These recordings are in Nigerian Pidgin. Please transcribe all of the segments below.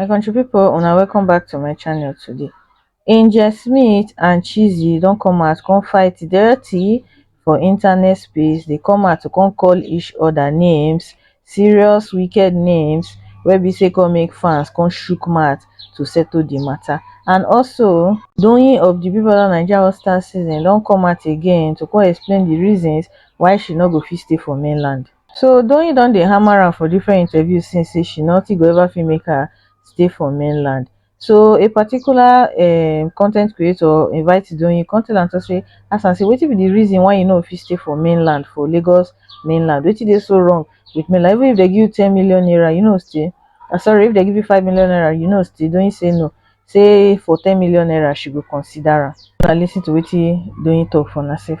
my country people una welcome back to my channel today angel smith and chizzy don come out come fight dirty for internet space They come out to come call each other names serious wicked names wey be say come make fans come chook mouth to settle the matter and also Doyin of the Big Brother Naija All Stars season don come out again to come explain the reasons why she no go fit stay for mainland so Doyin don dey hammer am for different interviews since say she nothing go ever fit make her stay for mainland So a particular um, content creator invite Doyin, come tell am to say, ask am say, wetin be the reason why you no fit stay for mainland, for Lagos mainland? Wetin dey so wrong with mainland? Even if they give you 10 million naira, you know stay. Uh, sorry, if they give you 5 million naira, you know stay. Doyin say no. Say for 10 million naira, she go consider am. Now listen to wetin Doyin talk for herself.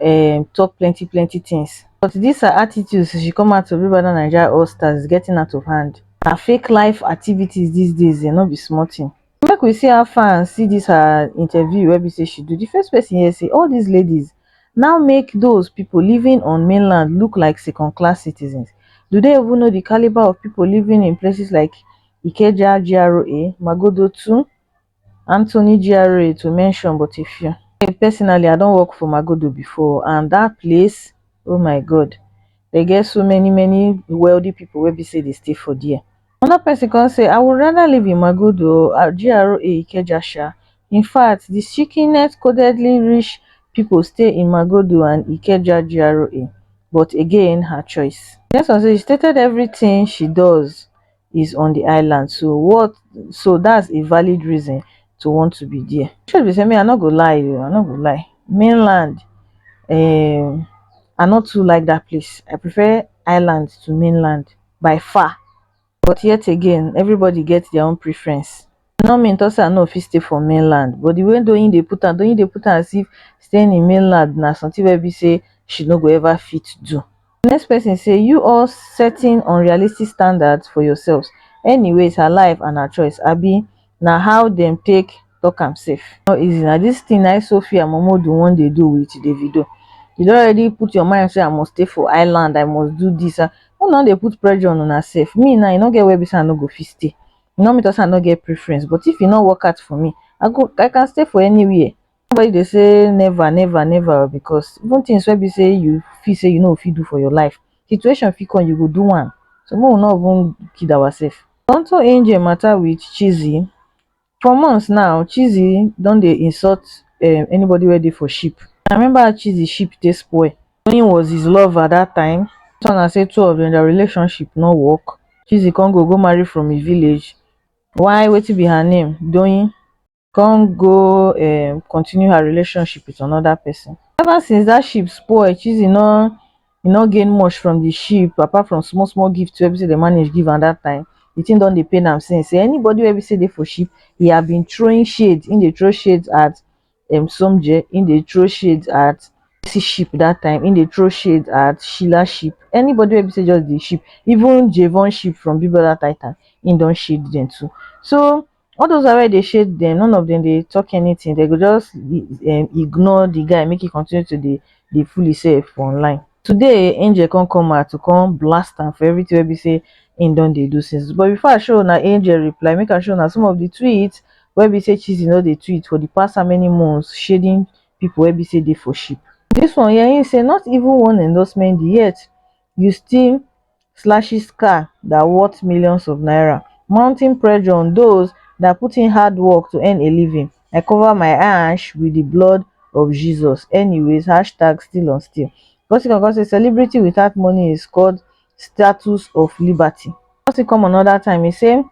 um talk plenty plenty things but this her attitude since she come out to big brother naija all stars is getting out of hand. Her fake life activities these days um no be small thing make we see how far and see this her interview wey be say she do the first person here say all these ladies now make those people living on mainland look like second class citizens do they even know the caliber of people living in places like ikeja GRA, magodo too Anthony GRA to mention but a few. Personally, I don work for Magodo before and that place, oh my God, they get so many many wealthy people wey be say they stay for there. Another person come say, I would rather live in Magodo at GRA Ikeja sha. In fact, the sickenet codedly rich people stay in Magodo and Ikeja GRA, but again, her choice. Next one say she stated everything she does is on the island so what so that's a valid reason to want to be there truth be say me i no go lie you i no go lie mainland um i not too like that place i prefer island to mainland by far but yet again everybody gets their own preference e no mean talk say i no fit stay for mainland but the way Doyin dey put am Doyin dey put am as if staying in mainland na something wey be say she no go ever fit do the next person say you all setting unrealistic standards for yourselves anyways her life and her choice abi na how dem take talk am sef no easy na this thing na him Sophia Momodu wan dey do with Davido you don already put your mind say i must stay for island i must do this make una no dey put pressure on una sef me now e no get where be say i no go fit stay E no mean to say I no get preference, but if e no work out for me, I go I can stay for anywhere. Nobody dey say never, never, never o because even things wey be say you feel say you no go fit do for your life, situation fit come you go do am. So make we no even kid ourselves. Onto Angel matter with Chizzy. For months now, Chizzy don dey insult um anybody wey dey for ship. I remember how Chizzy ship take spoil Tony was his lover that time so na say two of them their relationship no work Chizzy come go go marry from his village why wetin be her name Doyin come go um continue her relationship with another person ever since that ship spoil Chizzy no he no gain much from the ship apart from small small gift wey be say they manage give am that time the thing don dey pain am since say anybody wey be say dey for ship he had been throwing shade he dey throw shade at um somjee he dey throw shade at Mercy sheep that time he dey throw shade at Sheila sheep anybody wey be say just dey sheep even Javon sheep from Big Brother Titan he don shade them too so all those wey dey shade them none of them dey talk anything they go just um ignore the guy make he continue to dey dey fool himself for online today angel come come out to come blast am for everything wey be say im don dey do since but before i show una angel reply make i show una some of the tweets wey be say chizzy no dey tweet for the past how many months shading people wey be say dey for ship this one here im say not even one endorsement yet you still slashes car that worth millions of naira mounting pressure on those that put in hard work to earn a living i cover my yansh wit di blood of jesus anyways hashtag still on still gossip come come say celebrity without money is called status of liberty gossip come anoda time e say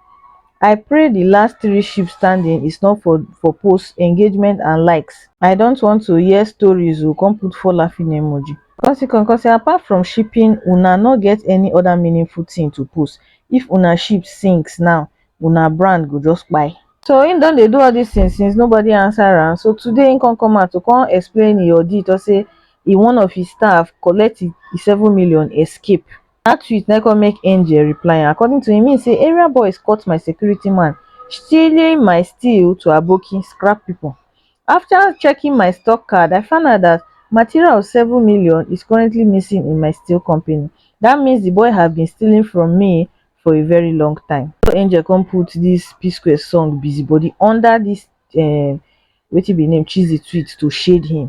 i pray di last three sheep standing is not for for posts engagement and likes i dont want to hear stories o con put four laughing emoji con still con con say apart from sheeping una no get any oda meaningful tin to post if una sheep sinks now una brand go just kpai so him don dey do all dis tins since nobody answer am so today him con come out to con explain e auditor say e one of his staff collect e seven million escape dat tweet na come make angel reply am according to im mean say area boys cut my security man stealing my steel to aboki scrap pipo afta checking my stock card i find out dat material of seven million is currently missing in my steel company dat means di boy have been stealing from me for a very long time na so angel come put dis psquare song busybody under dis um wetin be im name cheesy tweet to shade him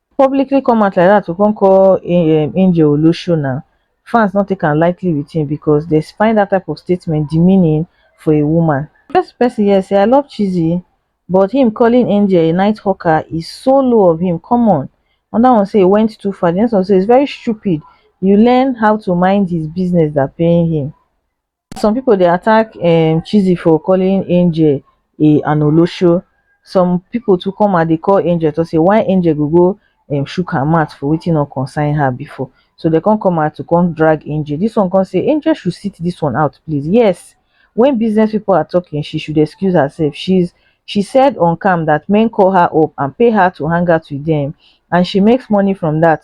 publicly come out like dat to come call um angel olosho na fans no take am lightly wit him becos dem find dat type of statement demeaning for a woman get pesin here say i love chizzy but him calling angel a night hawker is so low of him come on anoda one say e went too far di next one say is very stupid you learn how to mind his business dan paying him some people dey attack um chizzy for calling angel a an olosho some people too come out dey call angel talk say why angel go go um shook her mouth for wetin no concern her before so dey come come out to come drag angel this one come say angel should sit this one out please yes when business people are talking she should excuse herself she's she said on cam that men call her up and pay her to hang out with them and she makes money from that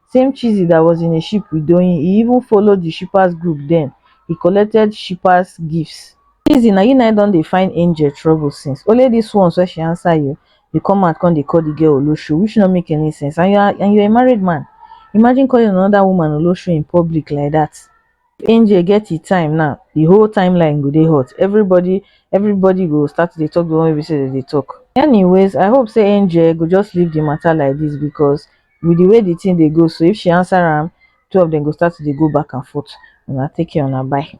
same chizzy that was in a ship with doyin e even follow di shippers group den e collected shippers gifts chizzy na you na don dey find angel trouble since only this ones wey she answer you you come out come dey call the girl olosho which no make any sense and you're and you're a married man imagine calling another woman olosho in public like that angel get e time now the whole timeline go dey hot everybody everybody go start to dey talk the one wey be say dem dey talk anyways i hope say angel go just leave the matter like this because with the way the thing dey go so if she answer am two of them go start to dey go back and forth una take care una bye